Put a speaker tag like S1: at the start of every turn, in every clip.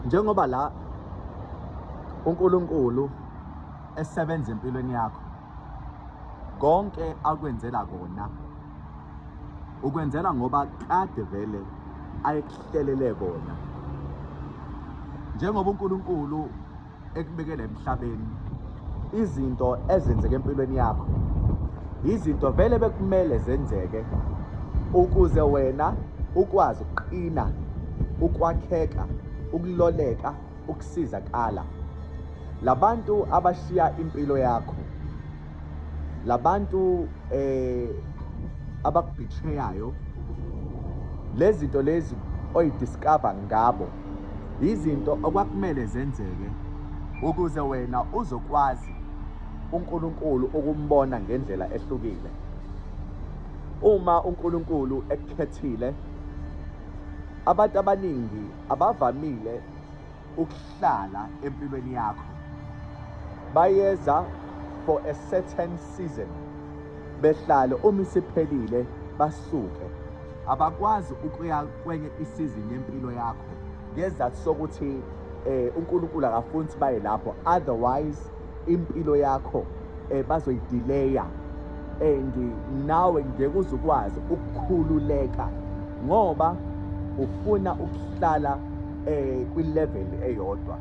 S1: njengoba la uNkulunkulu esebenza empilweni yakho konke akwenzela kona ukwenzela ngoba kade vele ayekuhlelele kona njengoba uNkulunkulu ekubekela emhlabeni izinto ezenzeke empilweni yakho izinto vele bekumele zenzeke ukuze wena ukwazi ukuqina ukwakheka ukuloleka ukusizakala labantu abashiya impilo yakho labantu eh abakubhitheyayo lezi zinto lezi oyidiscover ngabo Yizinto okwakumele zenzeke ukuze wena uzokwazi uNkulunkulu ukumbona ngendlela ehlukile. Uma uNkulunkulu ekukhethile, abantu abaningi abavamile ukuhlala empilweni yakho. Bayeza for a certain season behlale uma isiphelile basuke. Abakwazi ukuya kwenye isizini yempilo yakho ngezathu sokuthi eh uNkulunkulu akafuni ukuthi baye lapho otherwise impilo yakho eh bazoyidileya and nawe ngeke uzukwazi ukukhululeka ngoba ufuna ukuhlala eh kwi level eyodwa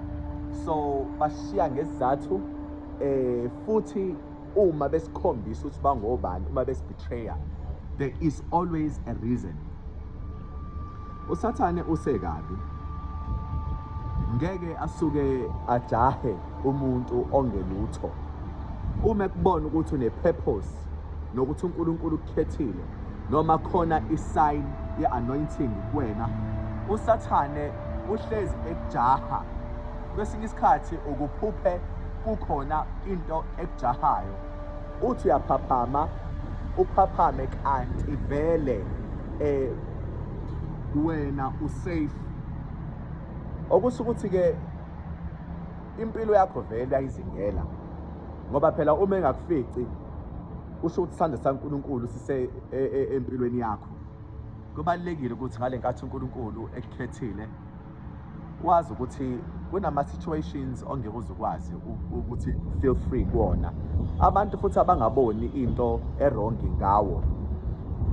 S1: so bashiya ngesizathu eh futhi uma besikhombisa ukuthi bangobani uma besibetrayer there is always a reason usathane usekabi ngeke asuke ajahe umuntu ongelutho uma kubona ukuthi une-purpose nokuthi unkulunkulu ukukhethile noma khona i-sign ye-anointing kuwena usathane uhlezi ekujaha kwesinye isikhathi ukuphuphe kukhona into ekujahayo uthi uyaphaphama uphaphame kanti vele eh wena usafe okusuka ukuthi ke impilo yakho vele ayizingela ngoba phela uma engakufici usho ukuthi sandla saNkulunkulu sise e, e, empilweni yakho kubalekile ukuthi ngale nkathi uNkulunkulu ekukhethile wazi ukuthi kunama situations ongeke uzukwazi ukuthi feel free kuona abantu futhi abangaboni into errong ngawo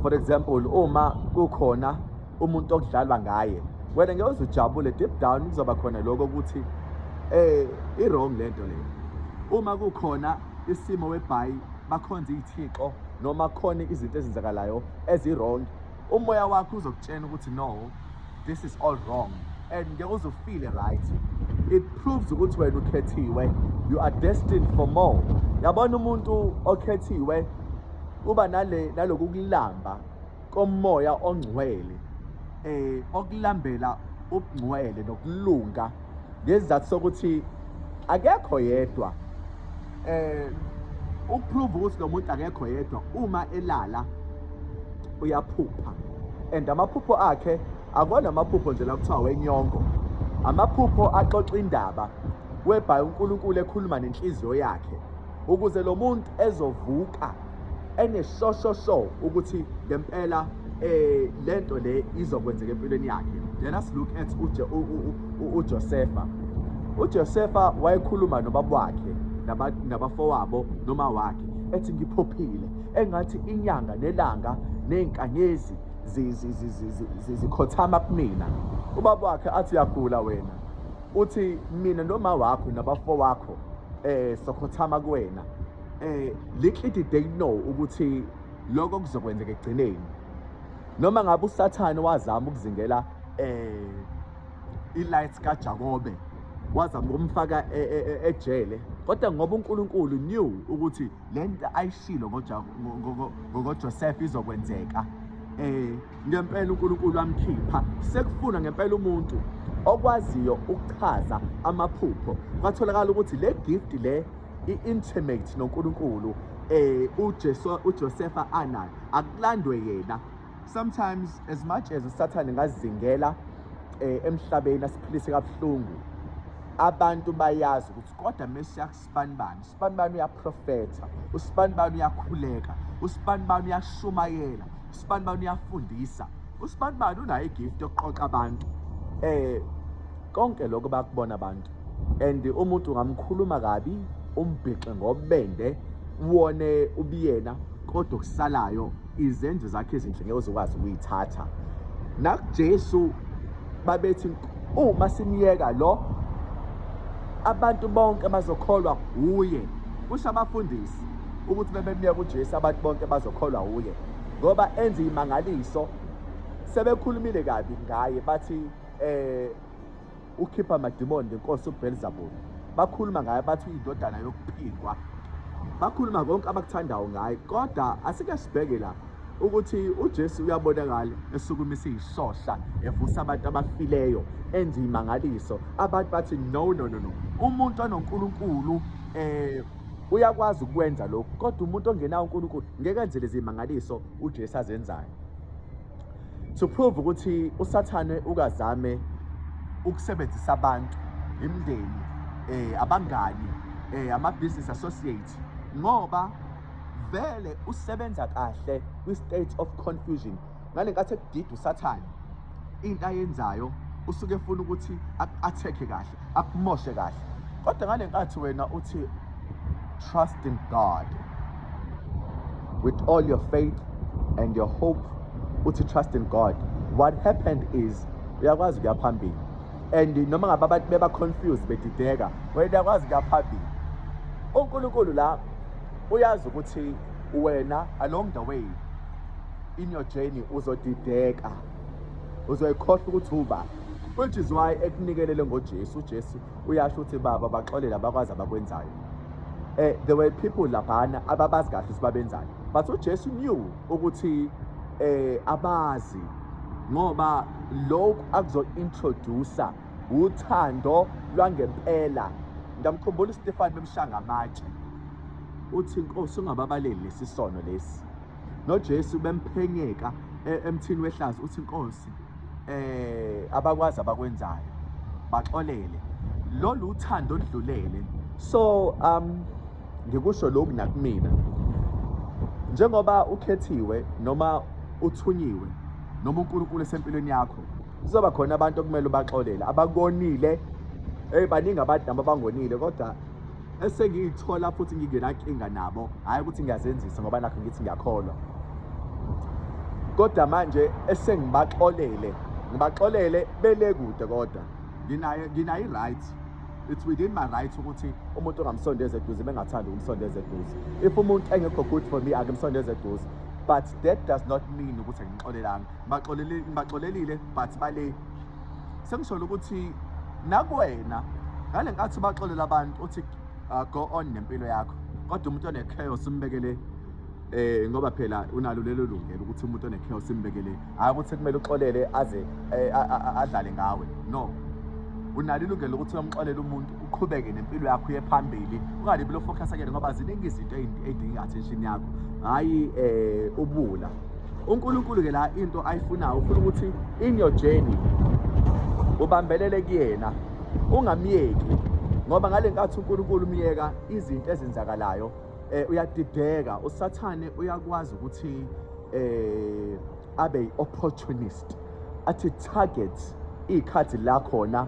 S1: for example uma kukhona umuntu okudlalwa ngaye wena ngeke uzujabule deep down kuzoba khona lokho ukuthi eh i-wrong lento le uma kukhona isimo webhayi bakhonza izithixo noma khona izinto ezenzakalayo ezi-wrong umoya wakho uzokutshena ukuthi no this is all wrong and ngeke uzufile right it proves ukuthi wena ukhethiwe you are destined for more yabona umuntu okhethiwe uba nale naloku kulamba komoya ongcwele eh okulambela ubungcwele nokulunga ngesizathu sokuthi akekho yedwa eh ukuprove ukuthi lo muntu akekho yedwa uma elala uyaphupha and amaphupho akhe akona amaphupho nje lakuthiwa wenyongo amaphupho axoxa indaba webhayi uNkulunkulu ekhuluma nenhliziyo yakhe ukuze lo muntu ezovuka eneshoshosho ukuthi ngempela eh lento le izokwenzeka empilweni yakhe let us look at uJosefa uJosefa wayekhuluma nobaba wakhe nabafowabo noma wakhe ethi ngiphophile engathi inyanga nelanga nezinkanyezi zikhothama kumina ubaba wakhe athi uyagula wena uthi mina noma wakho nabafo wakho eh sokhothama kuwena eh little did they know ukuthi lokho kuzokwenzeka egcineni noma ngabe usathane wazama ukuzingela eh ilights kaJakobe wazama ukumfaka e, e, e, ejele kodwa ngoba uNkulunkulu knew ukuthi lento ayishilo ngoJoseph izokwenzeka eh ngempela uNkulunkulu wamkhipha sekufuna ngempela umuntu okwaziyo ukuchaza amaphupho kwatholakala ukuthi le gift le i-intimate noNkulunkulu eh uJesu uJosefa anayo akulandwe yena sometimes as much as usathane ngazingela eh emhlabeni asiphilise kabuhlungu abantu bayazi ukuthi kodwa mesiya kusibanibani usibanibani uyaprofetha usibanibani uyakhuleka usibanibani uyashumayela usibanibani uyafundisa usibanibani unayo igift yokuqoqa abantu eh Konke lokho bakubona abantu and umuntu ungamkhuluma kabi umbhixe ngobende wone ubiyena kodwa okusalayo izenzo zakhe ezinhle ngeke uzokwazi ukuyithatha nakuJesu babethi uma simyeka lo abantu bonke bazokholwa kuye kusho abafundisi ukuthi bebemyeka uJesu abantu bonke bazokholwa kuye ngoba enza imangaliso sebekhulumile kabi ngaye bathi eh ukhipha amadimoni ngenkosi uBelzebub bakhuluma ngaye bathi uyindodana yokuphikwa bakhuluma konke abakuthandayo ngaye kodwa asike sibheke la ukuthi uJesu uyabonakala esukumisa izisohla evusa abantu abafileyo enza imangaliso abantu bathi no no no no umuntu anoNkulunkulu eh uyakwazi ukwenza lokho kodwa umuntu ongenawo uNkulunkulu ngeke enze lezi mangaliso uJesu azenzayo to prove ukuthi usathane ukazame ukusebenzisa abantu imndeni eh abangani eh ama business associates ngoba vele usebenza kahle kwi state of confusion ngalenkathi ekudida usathane into ayenzayo usuke efuna ukuthi athekhe kahle akumoshe kahle kodwa ngale nkathi wena uthi trust in God with all your faith and your hope uthi trust in God what happened is uyakwazi kuya phambili and noma ngabe abantu beba confused bedideka wena uyakwazi kuya phambili uNkulunkulu la uyazi ukuthi wena along the way in your journey uzodideka uzoyikhohlwa ukuthi uba which is why ekunikelele ngoJesu uJesu uyasho ukuthi baba baxolele abakwazi abakwenzayo eh there were people laphana ababazi kahle ukuthi babenzani but uJesu knew ukuthi eh abazi ngoba lokhu akuzo introduce uthando lwangempela ngamkhumbula uStefan bemshanga amatshe uthi inkosi ungababaleli lesisono lesi noJesu bemphenyeka e-, emthini wehlazo uthi inkosi eh abakwazi abakwenzayo baxolele lolu uthando oludlulele so um ngikusho lokhu nakumina njengoba ukhethiwe noma uthunyiwe noma uNkulunkulu esempilweni yakho kuzoba khona abantu okumele ubaxolele abakonile hey baningi abantu nabo abangonile kodwa esengiyithola futhi ngingenankinga nabo hhayi ukuthi ngiyazenzisa ngoba nakho ngithi ngiyakholwa kodwa manje esengibaxolele ngibaxolele bele kude kodwa nginayo nginayo i-right it's within my right ukuthi umuntu ongamsondeza eduze bengathandi ukumsondeza eduze if umuntu engekho good for me akimsondeza eduze but that does not mean ukuthi angixolelanga baxolelile ngibaxolelile but bale sengisholo ukuthi nakwena ngale nkathi ubaxolela abantu uthi uh, go on nempilo yakho kodwa umuntu one-chaos umbekele eh ngoba phela unalo lelo lungelo ukuthi umuntu one-chaos umbekele hhayi ukuthi kumele uxolele aze eh, adlale ngawe no unalo ilungelo lokuthi uyomxolela umuntu uqhubeke nempilo yakho uye phambili ungalibi lofocus akele ngoba ziningi izinto ey'dinga i-attention yakho hhayi um ubula uNkulunkulu ke la into ayifunayo ufuna ukuthi in your journey ubambelele kuyena ungamyeki ngoba ngale nkathi uNkulunkulu umyeka izinto ezenzakalayo eh uyadideka usathane uyakwazi ukuthi eh abe opportunist athi target ikhathi la khona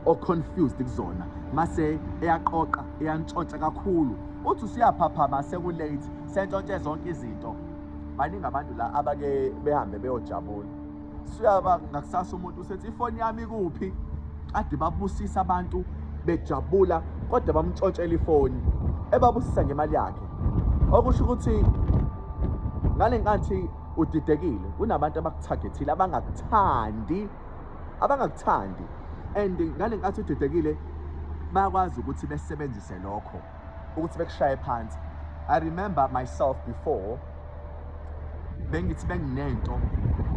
S1: o confused kuzona mase eyaqoqa eyantshontsha kakhulu uthi usiyaphaphama sekulate sentshontshe zonke izinto baningi abantu la abake behambe beyojabula suyaba ngakusasa umuntu usethi ifoni yami kuphi kade babusisa abantu bejabula kodwa bamtshotshela ifoni ebabusisa ngemali yakhe okusho ukuthi ngale nkathi udidekile kunabantu abakuthagethile abangakuthandi abangakuthandi and ngale nkathi udidekile bayakwazi ukuthi besebenzise lokho ukuthi bekushaye phansi i remember myself before bengithi benginento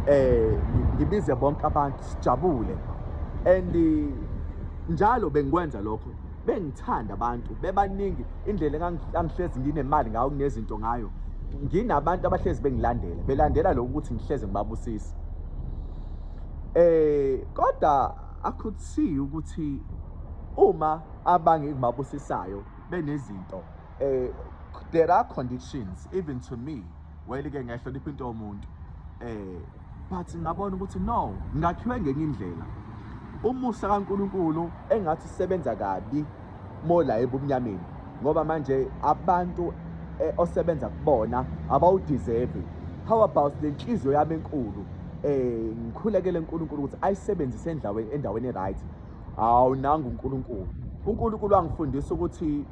S1: eh ngibize bonke abantu sijabule and njalo bengikwenza lokho bengithanda abantu bebaningi indlela engangihlezi nginemali ngayo kunezinto ngayo nginabantu abahlezi bengilandela belandela lokho ukuthi ngihleze ngibabusisa eh kodwa i could see ukuthi uma abangibabusisayo benezinto eh there are conditions even to me wayeli ke ngiyahlonipha into yomuntu eh but ngabona ukuthi no ngakhiwe ngenye indlela umusa kaNkuluNkulu engathi sebenza kabi mola ebumnyameni ngoba manje abantu eh, osebenza kubona abawudeserve how about le nhliziyo yami enkulu eh ngikhulekele uNkulunkulu ukuthi ayisebenzise endaweni endaweni right Hawu nangu uNkulunkulu. UNkulunkulu angifundisa ukuthi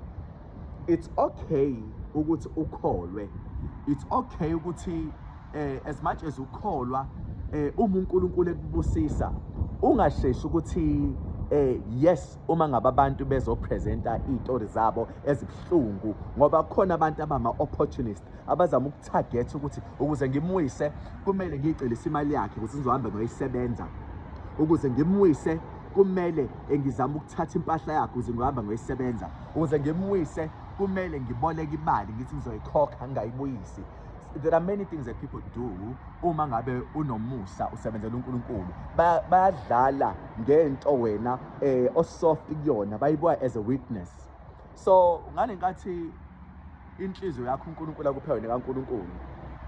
S1: it's okay ukuthi ukholwe. It's okay ukuthi eh as much as ukholwa eh uma uNkulunkulu ekubusisa ungasheshi ukuthi eh yes uma ngabe abantu bezopresenta izitori zabo ezibuhlungu ngoba kukhona abantu abama opportunists abazama ukuthagetha ukuthi ukuze ngimwise kumele ngiyicelise imali yakhe ukuthi ngizohambe ngoyisebenza ukuze ngimwise kumele engizama ukuthatha impahla yakhe ukuze ngihambe ngoyisebenza ukuze ngimwise kumele ngiboleke imali ngithi ngizoyikhokha ngingayibuyisi there are many things that people do uma ngabe unomusa usebenzela uNkulunkulu bayadlala ngento wena eh osoft kuyona bayibuka as a weakness so ngale nkathi inhliziyo yakho uNkulunkulu akuphe wena kaNkulunkulu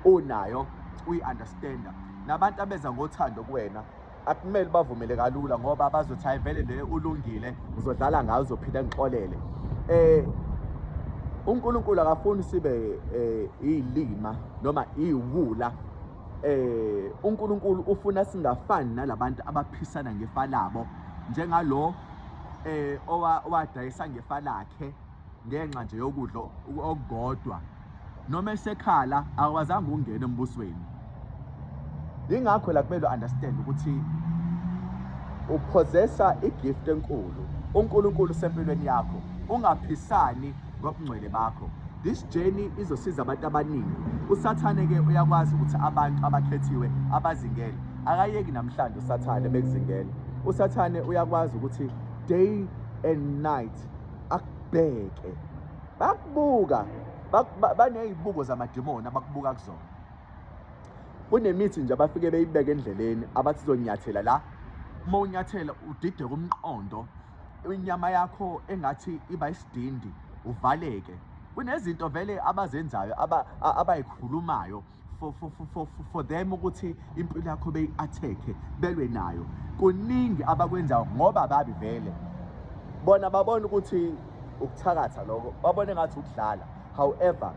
S1: unayo uyi-understanda nabantu abeza ngothando kuwena akumele bavumele kalula ngoba bazothi hayi vele le ulungile uzodlala ngayo uzophinde ngixolele eh uNkulunkulu akafuni sibe eh, iyilima noma iwula eh uNkulunkulu ufuna singafani nalabantu abaphisana ngefa labo njengalo eh owadayisa ngefa lakhe ngenxa nje yokudla okukodwa noma esekhala akwazanga ukungena embusweni ingakho la kumele understand ukuthi upossessa igift enkulu uNkulunkulu sempilweni yakho ungaphisani ngobungcwele bakho this journey izosiza abantu abaningi usathane ke uyakwazi ukuthi abantu abakhethiwe abazingele akayeki namhlanje usathane bekuzingele usathane uyakwazi ukuthi day and night akubheke bakubuka banezibuko zamadimoni abakubuka kuzona kunemithi nje abafike beyibeke endleleni abathi zonyathela la uma unyathela udideke umqondo inyama yakho engathi iba isidindi uvaleke kunezinto vele abazenzayo abayikhulumayo aba for, for, for, for, for them ukuthi impilo yakho beyi-attack-e belwe nayo kuningi abakwenzayo ngoba babi vele bona babona ukuthi ukuthakatha lokho babone ngathi ukudlala however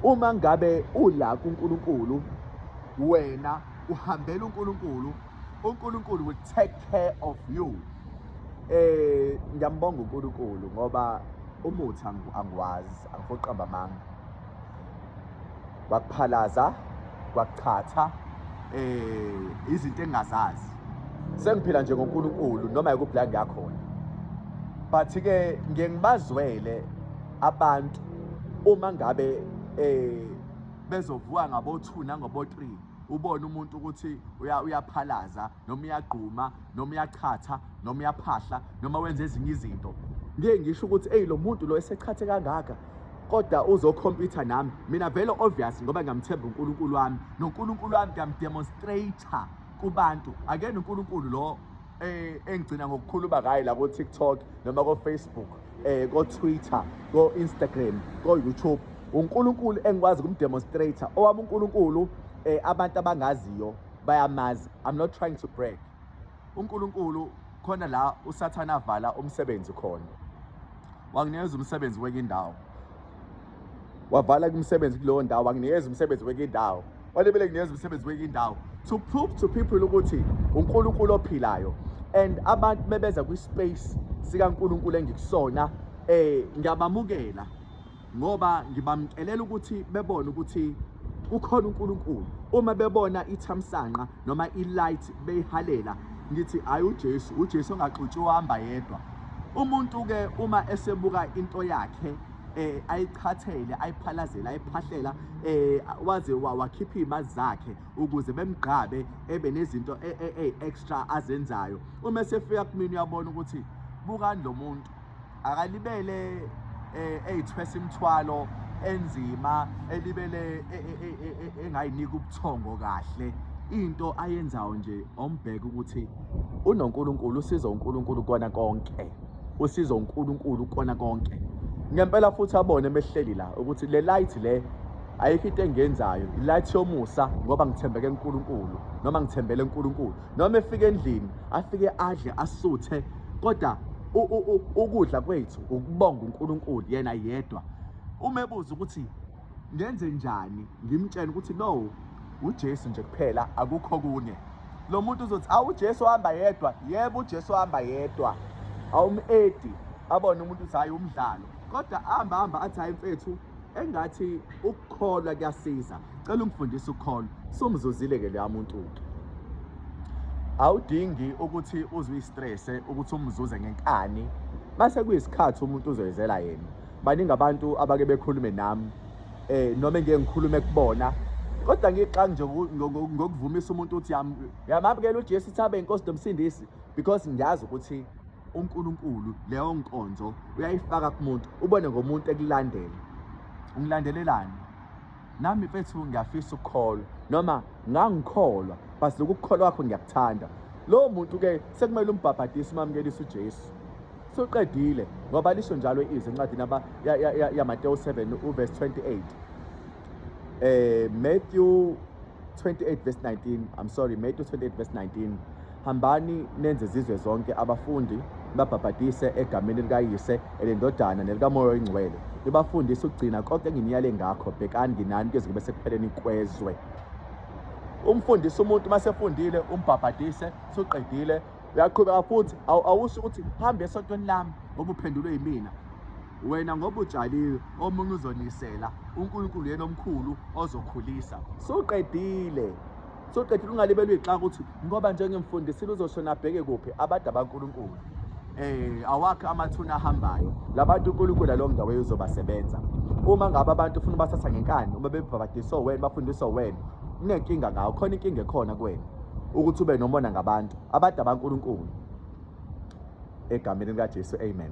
S1: uma ngabe ula kuNkulunkulu wena uhambela uNkulunkulu uNkulunkulu will take care of you eh ngiyambonga uNkulunkulu ngoba umuthi angiwazi angifoqamba amanga wakuphalaza kwachatha eh izinto engingazazi sengiphila nje ngoNkulunkulu noma yikuphi ngiyakhona but ke ngiye ngibazwele abantu uma ngabe eh bezovuka ngabo 2 nangobo 3 ubone umuntu ukuthi uyaphalaza noma uyagquma noma uyachatha noma uyaphahla noma wenza ezinye izinto ngeke ngisho ukuthi eyi lo muntu lo esechathe kangaka kodwa uzokhompyutha nami mina vele obvious ngoba ngiyamthemba uNkulunkulu wami noNkulunkulu wami ngiyamdemonstrator kubantu akena uNkulunkulu lo Eh, engigcina ngokukhuluma ngayo la ko-tiktok noma ko-facebook um ko-twitter ko-instagram ko-youtube unkulunkulu engikwazi kumdemonstrator owami unkulunkulu um abantu abangaziyo bayamazi i'm not trying to break unkulunkulu khona la usathane avala umsebenzi khona wanginikeza umsebenzi kwenye indawo wavala kumsebenzi kuleyo ndawo wanginikeza umsebenzi kwenye indawo walebele nginikeza umsebenzi kwenye indawo to prove to people ukuthi uNkulunkulu ophilayo and abantu bebeza kwi-space sikaNkulunkulu engikusona eh ngiyabamukela ngoba ngibamcelela ukuthi bebone ukuthi ukhona uNkulunkulu uma bebona ithamsanqa noma ilight beyihalela ngithi hayi uJesu uJesu ongaxutshi uhamba yedwa umuntu ke uma esebuka into yakhe eh ayichathele ayiphalazela ayiphahlela eh waze wakhipha imazi zakhe ukuze bemgqabe ebe nezinto e, e, e, extra azenzayo uma sefika kumina uyabona ukuthi bukani lo muntu akalibele eh, eyithwesa imthwalo enzima elibele e, e, e, engayinika ubuthongo kahle into ayenzayo nje ombheka ukuthi unoNkulunkulu usiza uNkulunkulu kona konke usiza uNkulunkulu kona konke ngempela futhi abone mehleli la ukuthi le light le ayikho into engenzayo light yomusa ngoba ngithembeke uNkulunkulu noma ngithembele uNkulunkulu noma efika endlini afike adle asuthe kodwa ukudla kwethu ukubonga uNkulunkulu yena yedwa uma ebuza ukuthi ngenze njani ngimtshela ukuthi no uJesu nje kuphela akukho kunye lo muntu uzothi awu uJesu ohamba yedwa yebo uJesu ohamba yedwa awumedi abone umuntu uthi hayi umdlalo kodwa ahamba hamba athi hayi mfethu engathi ukukholwa kuyasiza cela ungifundise ukukholwa somzuzile ke leya muntu ke awudingi ukuthi uzwe istress ukuthi umzuze ngenkani base kuyisikhathi umuntu uzoyizela yena baningi abantu abake bekhulume nami eh noma ngeke ngikhulume kubona kodwa ngixangi nje ngokuvumisa umuntu ukuthi yamamukela uJesu thabe inkosi nomsindisi because ngiyazi ukuthi uNkulunkulu leyo nkonzo uyayifaka kumuntu ubone ngomuntu ekulandela ungilandelelani nami mfethu ngiyafisa ukukholwa noma ngangikholwa but lokukholwa kwakho ngiyakuthanda lowo muntu ke sekumele umbhabhadise umamkelise uJesu suqedile ngoba lisho njalo izwi encwadini yamatewu 7 uverse 28 eh matthew 28 verse 19 i'm sorry matthew 28 verse 19 Hambani nenze zizwe zonke abafundi babhabhadise egameni likaYise elendodana nelikaMoya oyingcwele nibafundise ukugcina konke enginiyale ngakho bhekani nginani kuze kube sekupheleni kwezwe umfundise umuntu uma sefundile umbhabhadise suqedile uyaqhubeka futhi awusho ukuthi hambe esontweni lami ngoba uphendulwe yimina wena ngoba utshalile omunye uzonisela unkulunkulu yena omkhulu ozokhulisa suqedile soqedile ungalibelwa ixaka ukuthi ngoba njengemfundisile uzoshona abheke kuphi abada bankulunkulu eh awakhe amathuna ahambayo labantu uNkulunkulu lo ndawo uzobasebenza uma ngabe abantu ufuna bathatha ngenkani uma bebhabhadiswa wena bafundiswa wena unenkinga ngawo khona inkinga ekhona kuwena ukuthi ube nomona ngabantu abada bankulunkulu egameni likaJesu amen